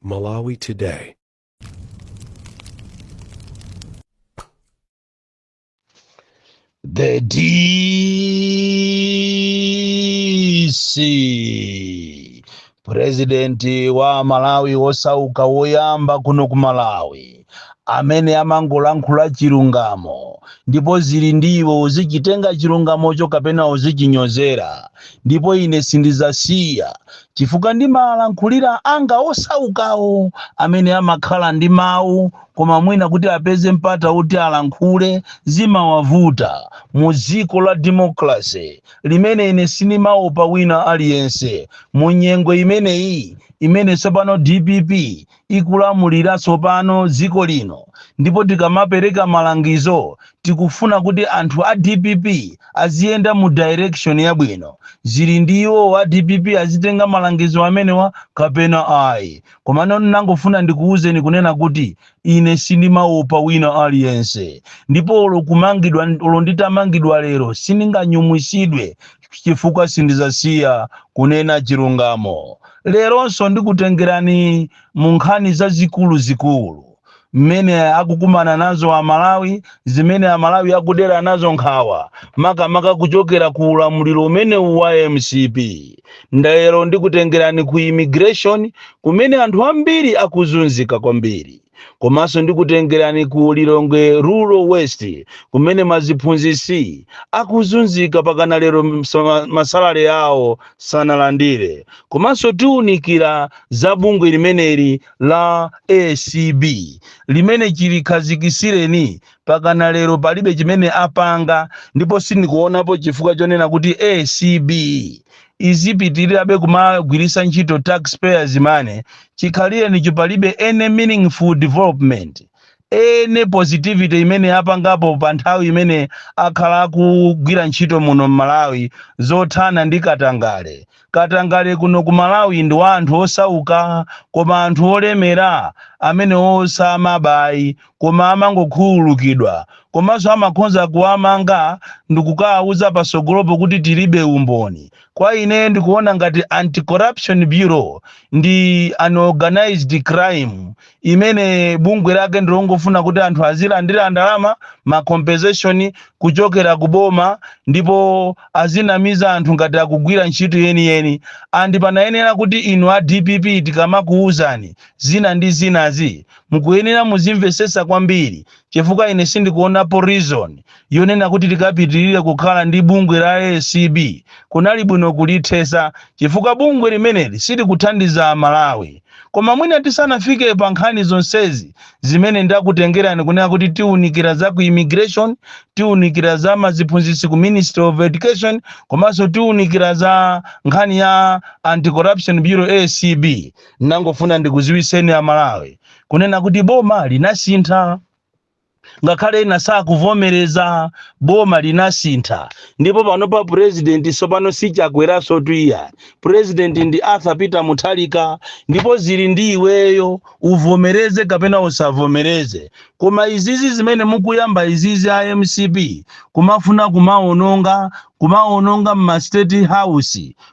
Malawi Today. The DC, presidenti wa Malawi wosauka woyamba kuno ku Malawi. amene amangolankhula chilungamo, ndipo zili ndi iwe uzichitenga chilungamocho kapena uzichinyozera, ndipo ine sindizasiya, chifukwa ndimalankhulira anga osaukawo amene amakhala ndi mawu koma mwina kuti apeze mpata woti alankhule zimawavuta mu dziko la democracy limene ine sindimaopa wina aliyense mu nyengo imeneyi imene tsopano dpp ikulamulira tsopano dziko lino ndipo tikamapereka malangizo tikufuna kuti anthu a dpp aziyenda mu direction yabwino. Zili ndi iwo a dpp azitenga malangizo amenewa kapena ayi. Komano ndinangofuna ndikuuzeni kunena kuti ine sindimaopa wina aliyense ndipo olo kumangidwa, olo nditamangidwa lero sindinganyumwisidwe chifukwa sindizasiya kunena chilungamo. Leronso ndikutengerani mu nkhani zazikulu zikulu mmene akukumana nazo amalawi zimene amalawi akudera nazo nkhawa makamaka kuchokera ku ulamuliro umene wa mcp nde lero ndikutengerani ku immigration kumene anthu ambiri akuzunzika kwambiri komanso ndikutengerani ku lilongwe rural west kumene maziphunzitsi akuzunzika pakana lero ma salary awo sanalandire komanso tiunikira za bungwe limeneli la acb limene chilikhazikisireni pakana lero palibe chimene apanga ndipo sindikuonapo chifukwa chonena kuti acb izipitirirabe kumagwiritsa ntchito taxpayers money chikhalirenicho palibe any meaningful development any positivity imene apangapo pa nthawi imene akhala akugwira ntchito muno mmalawi zothana ndi katangale katangale kuno ku malawi ndi wa anthu osauka koma anthu olemera amene samaba ayi koma amangokhululukidwa komanso amakhonza kuwamanga ndikukawauza pasogolopo kuti tilibe umboni kwa ineyo ndikuona ngati anti corruption bureau ndi an organized crime imene bungwe lake ndilongofuna kuti anthu azilandira ndalama ma compensation kuchokera ku boma ndipo azinamiza anthu ngati akugwira ntchito yeniyeni andi panayenera kuti inu a dpp tikamakuwuzani zina ndi zinazi Mukuyenera muzimvetsetsa kwambiri chifukwa ine sindikuonapo reason yonena kuti tikapitirire kukhala ndi bungwe la ACB. Kunali bwino kulithetsa chifukwa bungwe limeneli silikuthandiza a Malawi. Koma mwina tisanafike pa nkhani zonsezi zimene ndakutengerani kunena kuti tiunikira za ku immigration, tiunikira za maziphunzitsi ku ministry of education komanso tiunikira za nkhani ya Anti-corruption Bureau, ACB. Ndangofuna ndikuziwiseni a Malawi kunena kuti boma linasintha ngakhale ena sakuvomereza boma linasintha ndipo panopa president sopano si Chakweranso iyayi president ndi Arthur Peter Mutharika ndipo zili ndi iweyo uvomereze kapena usavomereze koma izizi zimene mukuyamba izizi a MCP kumafuna kumaononga kumaononga m'ma state house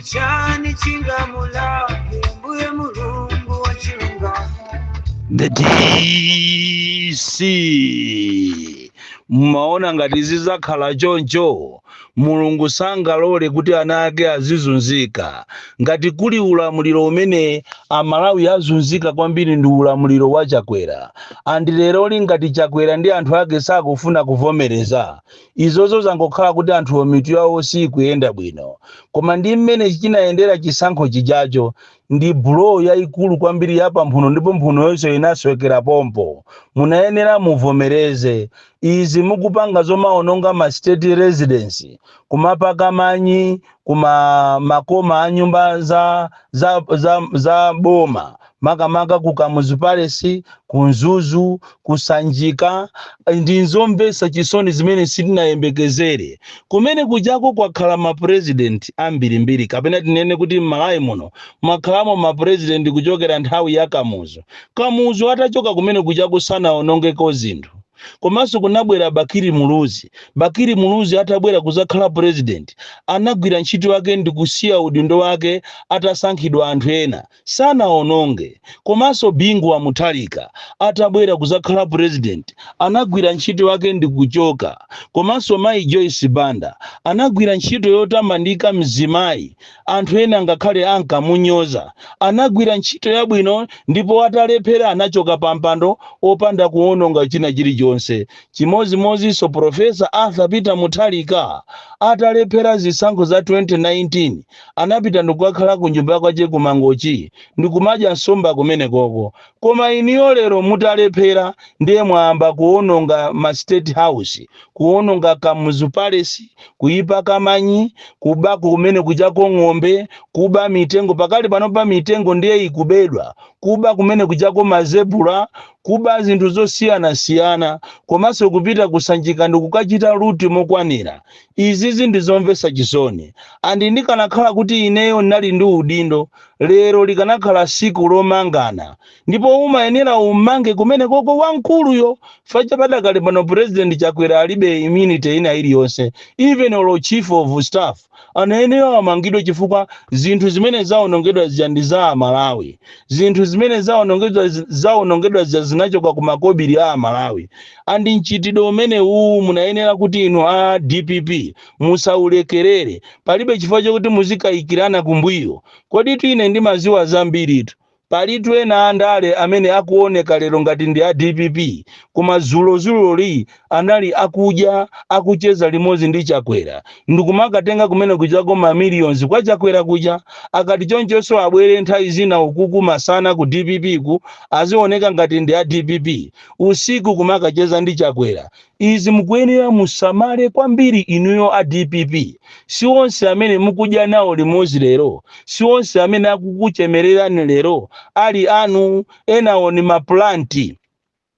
n'chiyani chingamulake mbuye mulungu wa chilungamo the DC mmaona ngati zizakhala choncho mulungu sangalole kuti ana ake azizunzika ngati kuli ulamuliro umene amalawi azunzika kwambiri ndi ulamuliro wa chakwera and leroli ngati chakwera ndi anthu ake sakufuna kuvomereza Izozo zangokhala kuti anthuwo mitu yawo sikuyenda bwino. Koma ndi mmene chinayendera chisankho chijacho, ndi blow yaikulu kwambiri ya pamphuno ndipo mphunoyonso inaswekera pompo. Munayenera muvomereze. Izi mukupanga zomaononga ma state residence, kumapaka manyi kuma makoma a nyumba za za za za boma makamaka ku Kamuzu Palace, ku Mzuzu, ku Sanjika, ndi nzomvetsa chisoni zimene sitinayembekezere. Kumene kujako kwakhala ma president ambirimbiri kapena tinene kuti m'Malawi muno mwakhalamo ma president kuchokera nthawi ya Kamuzu. Kamuzu atachoka kumene kujako sanaonongeko zinthu. Komanso kunabwera Bakili Muluzi. Bakili Muluzi atabwera kuzakhala president anagwira ntchito yake ndikusiya udindo wake atasankhidwa anthu ena. sanaononge komanso bingu wa muthalika atabwera kuzakhala president anagwira ntchito yake ndikuchoka komanso mayi joyce banda anagwira ntchito yotamandika mzimayi anthu ena ngakhale ankamunyoza anagwira ntchito yabwino ndipo atalephera anachoka pampando opanda kuononga china chilichonse chimozimozinso profesa arthur peter muthalika atalephera zisankho za 2019 anapita ndikukakhala ku nyumba kwache ku mangochi ndikumadya nsomba kumenekoko koma inuyo lero mutalephera ndiye mwayamba kuononga ma state house kuononga kamuzu palace kuipaka manyi kuba kumene kujako ng'ombe kuba mitengo pakali panopa mitengo ndiye ikubedwa kuba kumene kujako mazebura kuba zinthu zosiyanasiyana komanso kupita ku sanjika ndikukachita loot mokwanira Izizi ndi zomvesa chisoni and ndikanakhala kuti ineyo nali ndi udindo lero likanakhala siku lomangana ndipo umayenera ummange kumenekoko wamkuluyo chifukwa padakali pano president Chakwera alibe immunity ina iliyonse even olo chief of staff anayenera amangidwe chifukwa zinthu zimene zaonongedwa zija ndi za amalawi zinthu zimene zaonongedwa zija zinachoka ku makobiri a amalawi andi mchitidwe umene uwu munayenera kuti inu a dpp musaulekerere palibe chifukwa chokuti muzikayikirana kumbuyo koditu ine ndimadziwa zambiritu palitu ena andale amene akuoneka lero ngati ndi a dpp koma dzulodzuloli anali akudya akucheza limodzi ndi chakwera ndikumakatenga kumene kujako ma millions kwa chakwera kuja akati chonchonso abwere nthawi zina kuti masana ku dpp ku azioneka ngati ndi a dpp usiku kumakacheza ndi Chakwera izi mukuyenera musamale kwambiri inuyo a dpp si onse amene mukudya nawo limodzi lero si onse amene akukuchemererani lero ali anu enawo ni maplanti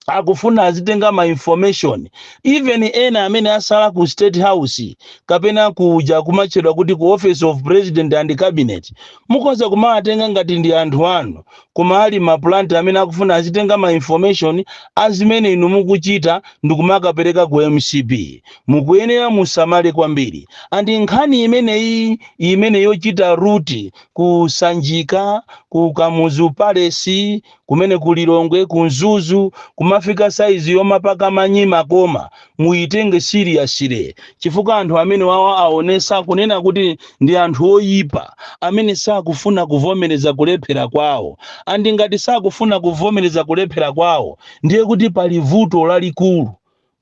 akufuna azitenga ma information even ena amene atsala ku state house kapena kuja kumatchedwa kuti ku office of president and cabinet mukhoza kumawatenga ngati ndi anthu anu koma ali ma plant amene akufuna azitenga ma information a zimene inu mukuchita ndikumakapeleka ku mcp mukuyenera musamale kwambiri and nkhani imeneyi imene yochita loot ku sanjika ku kamuzu palace kumene ku lilongwe ku mzuzu kumafika saizi yomapaka manyi m'makoma muyitenge seriously chifukwa anthu amene wawa aonesa kunena kuti ndi anthu oyipa amene sakufuna kuvomereza kulephera kwawo and ngati sakufuna kuvomereza kulephera kwawo ndiye kuti pali vuto lalikulu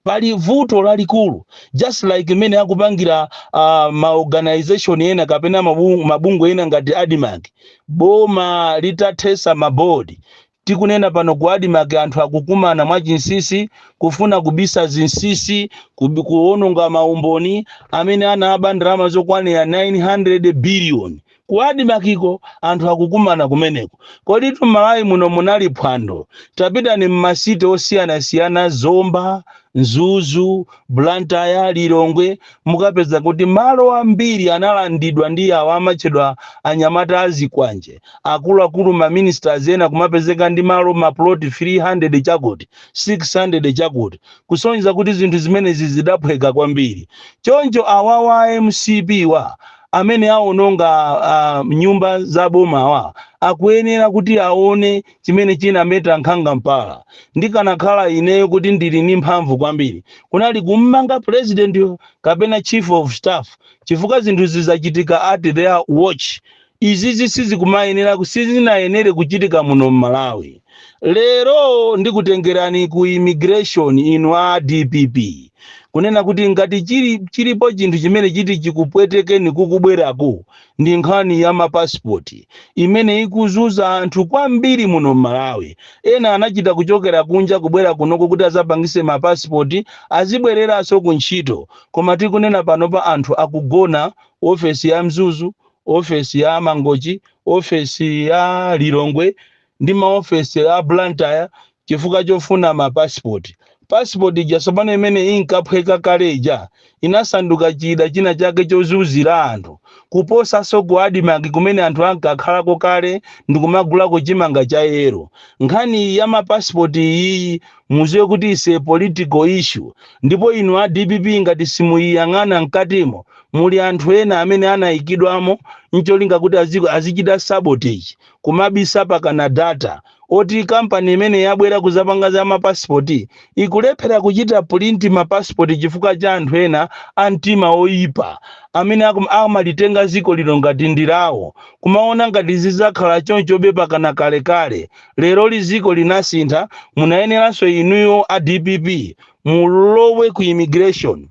pali vuto lalikulu just like mmene akupangira uh, ma organization ena kapena mabungwe ena ngati admarc boma litathesa mabodi Tikunena pano ku Admarc anthu akukumana mwachinsinsi kufuna kubisa zinsinsi, kuononga ma umboni amene anaba ndalama zokwanira 900 billion. Ku Admarc ko anthu akukumana kumeneko. Koditu m'Malawi muno munali phwando. Tapitani m'ma city osiyanasiyana Zomba, Mzuzu, Blantyre, Lilongwe mukapeza kuti malo ambiri analandidwa ndi awo amatchedwa anyamata a zikwanje, akuluakulu ma ministers ena kumapezeka ndi malo ma plot 300 chakuti, 600 chakuti, kusonyeza kuti zinthu zimenezi zidaphweka kwambiri. Choncho awawa a mcp wa amene awononga nyumba za bomawa akuyenera kuti aone chimene chinameta nkhanga mpala. Ndikanakhala ineyo kuti ndili ni mphamvu kwambiri, kunali kummanga pulezidentiyo kapena chief of staff chifukwa zinthuzi zachitika at their watch. Izizi sizikumayenera, sizinayenere kuchitika muno m'Malawi. Lero ndikutengerani ku immigration inu a dpp kunena kuti ngati chilipo chinthu chimene chiti chikupwetekeni kukubweraku ndi nkhani ya ma passport imene ikuzunza anthu kwambiri muno mmalawi ena anachita kuchokera kunja kubwera kunoko kuti azapangise ma passport azibwereranso ku ntchito koma tikunena panopa anthu akugona ofesi ya mzuzu ofesi ya mangochi ofesi ya lilongwe ndi ma ofesi a Blantyre chifukwa chofuna ma passport. Passport ija sopano imene inkaphweka kale ija inasanduka chida china chake chozunzira anthu kuposaso ku Admarc kumene anthu ankakhalako kale ndikumagulako chimanga cha yellow. Nkhani ya ma passport iyiyi muziwe kuti is a political issue ndipo inu a dpp ngati simuyiyang'ana mkatimo muli anthu ena amene anayikidwamo ncholinga kuti azichita sabotage kumabisa pakana data oti company imene yabwera kuzapanga za ma passport ikulephera kuchita print ma passport chifukwa cha anthu ena a mtima oyipa amene akum- amalitenga ziko lino ngati ndilawo kumaona ngati zizakhala chonchobe pakana kalekale leroli ziko linasintha munayeneranso inuyo a dpp mulowe ku immigration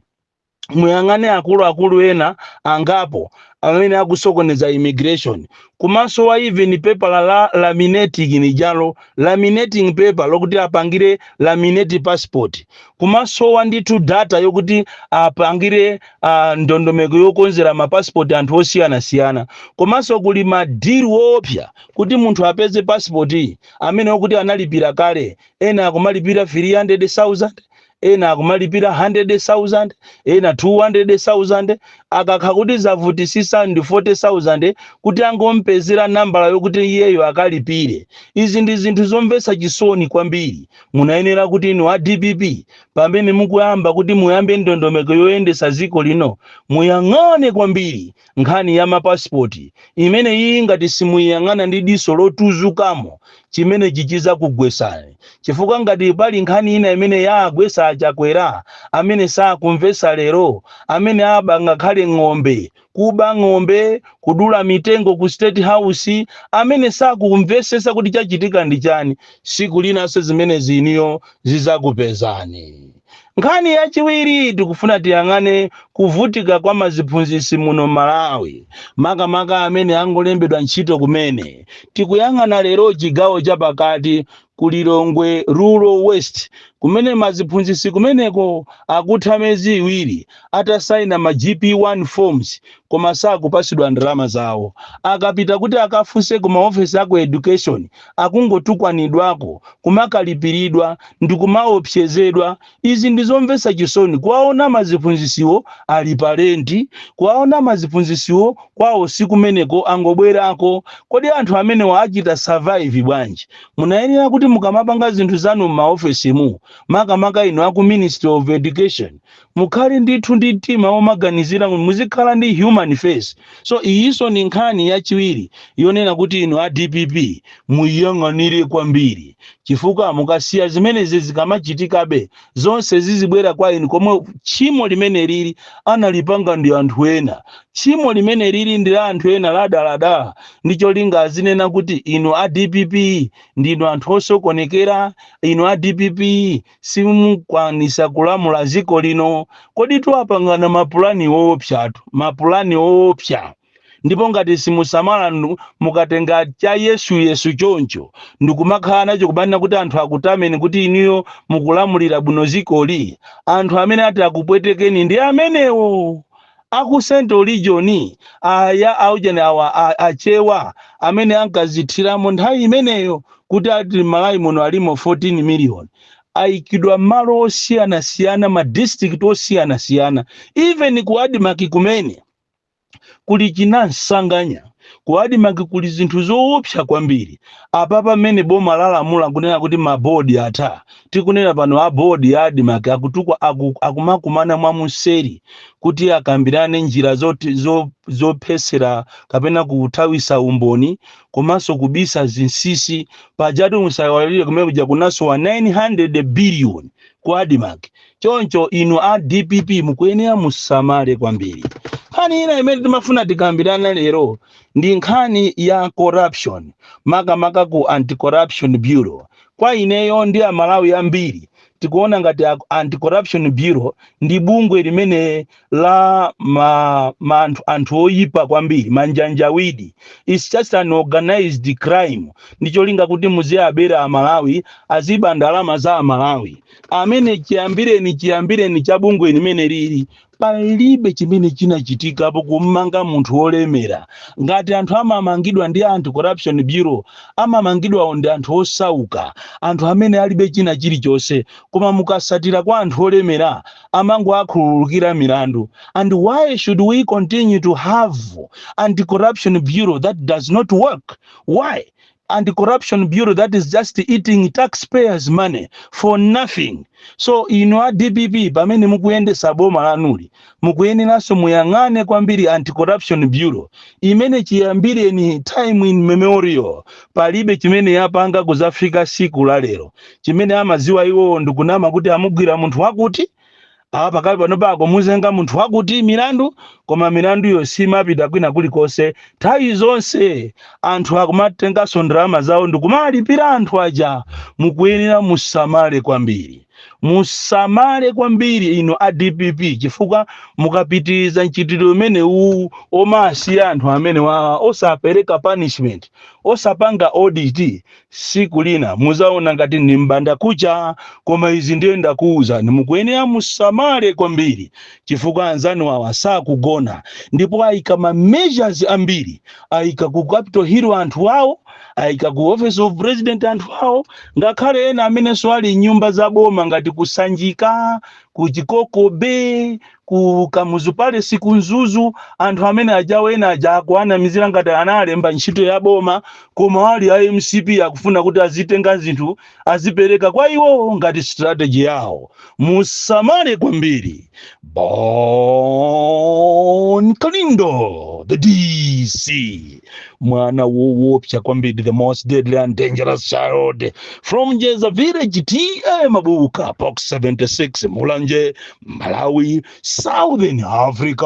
muyang'ane akuluakulu ena angapo amene akusokoneza immigration kumasowa even pepala la laminating nijalo laminating paper lokuti apangire laminate passport kumasowa ndithu data yokuti apangire uh, ndondomeko yokonzera mapassport anthu osiyanasiyana komanso kuli madili oopsa kuti munthu apeze passport amene okuti analipira kale ena akumalipira 300000 ena akumalipira 100,000 ena 200,000 akakhala kuti zavutisisa ndi 40,000 kuti angompezera nambala yokuti iyeyo akalipire izi ndi zinthu zomvetsa chisoni kwambiri munayenera kuti inu a dpp pamene mukuyamba kuti muyambe ndondomeko yoyendetsa dziko lino muyang'ane kwambiri Nkhani ya ma passport imeneyiyi ngati simuiyang'ana ndi diso lotuzukamo chimenechi chizakugwesani chifukwa ngati pali nkhani ina imene yaagwesa a Chakwera amene sakumvesa lero amene aba ngakhale ng'ombe kuba ng'ombe kudula mitengo ku state house amene sakumvesesa kuti chachitika ndi chani siku linanso zimenezi inuyo zizakupezani. Nkhani yachiwiri tikufuna tiyang'ane kuvutika kwa maziphunzitsi muno Malawi makamaka amene angolembedwa ntchito kumene. Tikuyang'ana lero chigawo cha pakati ku Lilongwe Rural West kumene maziphunzitsi kumeneko akutha miyezi iwiri atasaina ma GP1 forms koma sakupatsidwa ndalama zawo. Akapita kuti akafunse ku ma ofesi a ku Education akungotukwanidwako, kumakalipiridwa, ndikumaopsezedwa. Izi ndi zomvetsa chisoni, kuwaona maziphunzitsiwo ali pa lenti, kuwaona maziphunzitsiwo kwawo si kumeneko, angobwerako. Kodi anthu amenewa achita survive bwanji? Munayenera kuti mukamapanga zinthu zanu m'maofesimu, makamaka inu aku Ministry of Education, Mukhale ndithu ndi mtima womaganizira, muzikhala ndi human face. So iyinso ndi nkhani yachiwiri yonena kuti inu a dpp muiyang'anire kwambiri chifukwa mukasiya zimenezi zikamachitikabe zonse zizibwera kwa inu pomwe tchimo limene lili analipanga ndi anthu ena. Tchimo limene lili ndi la anthu ena ladaladala ndi cholinga azinena kuti inu a dpp ndinu anthu osokonekera, inu a dpp simukwanisa kulamula ziko lino kodi anthuwa apangana mapulani woopsatu mapulani woopsa ndipo ngati simusamala nu- mukatenga cha yesu yesu choncho ndikumakhala nacho kumanena kuti anthu akutameni kuti inuyo mukulamulira bwino dzikoli anthu amene ati akupwetekeni ndi amenewo aku central region aya aujeni awa a- achewa amene ankazithiramo nthawi imeneyo kuti ati m'malawi muno alimo 14 million aikidwa m'malo osiyanasiyana ma district osiyanasiyana even ku admarc kumene kuli chinansanganya ku admarc kuli zinthu zoopsa kwambiri apapa mmene boma lalamula kunena kuti mabodi atha tikunena pano a board ya admarc akutu- aku, akumakumana mwa mseri kuti akambirane njira zoti- zo- zophetsera kapena kuthawitsa umboni komanso kubisa zinsisi pajatu musaiwalire kumene kuja kunasowa 900 billion ku admarc choncho inu a dpp mukuyenera musamale kwambiri nkhani ina imene timafuna tikambirane lero ndi nkhani ya corruption makamaka ku anti-corruption bureau Kwa ineyo ndi a Malawi ambiri tikuona ngati a Anti Corruption Bureau ndi bungwe limene la ma, ma anthu, anthu oyipa kwambiri manjanjawidi. It's just an organized crime ndi cholinga kuti muziabera a Malawi aziba ndalama za a Malawi. Imene chiyambireni chiyambireni cha bungwe limene lili Palibe chimene chinachitikapo kumanga munthu wolemera. Ngati anthu amamangidwa ndi anti corruption bureau amamangidwawo ndi anthu osauka, anthu amene alibe china chilichonse koma mukasatira kwa anthu olemera amangowakhululukira milandu and why should we continue to have anti corruption bureau that does not work why? anti corruption bureau that is just eating tax payers money for nothing so inu a dpp pamene mukuyendesa boma lanuli mukuyeneranso muyang'ane kwambiri anti corruption bureau imene chiyambireni time in memorial palibe chimene yapanga kuzafika siku la lero chimene amaziwa iwowo ndikunama kuti amugwira munthu wakuti apa pakali pano akumuzenga munthu wakuti milandu koma milanduyo simapita kwina kulikonse nthawi zonse anthu akumatenganso ndalama zawo ndikumalipira anthu aja mukuyenera musamale kwambiri musamale kwambiri inu a dpp chifukwa mukapitiriza mchitidwe umene uwu omasiya anthu amenewa osapereka punishment osapanga audit siku lina muzaona ngati ndi mbanda kucha koma izi ndiye ndakuuzani mukuyenera musamale kwambiri chifukwa anzanu awa sakugona ndipo ayika ma measures ambiri ayika ku capital hill anthu awo ayika ku office of president anthu awo ngakhale ena amenenso ali mnyumba za boma ngati ku sanjika ku chikoko bay ku kamuzu palace ku mzuzu anthu amene ajawo ena aja akuwanamizira ngati analembedwa ntchito ya boma koma ali a mcp akufuna kuti azitenga zinthu azipereka kwa iwowo ngati strategy yawo musamale kwambiri bon kalindo the dc mwana wowopsa kwambiri the most deadly and dangerous child from jeza village ta mabuka box 76 mulanje Malawi, Southern Africa.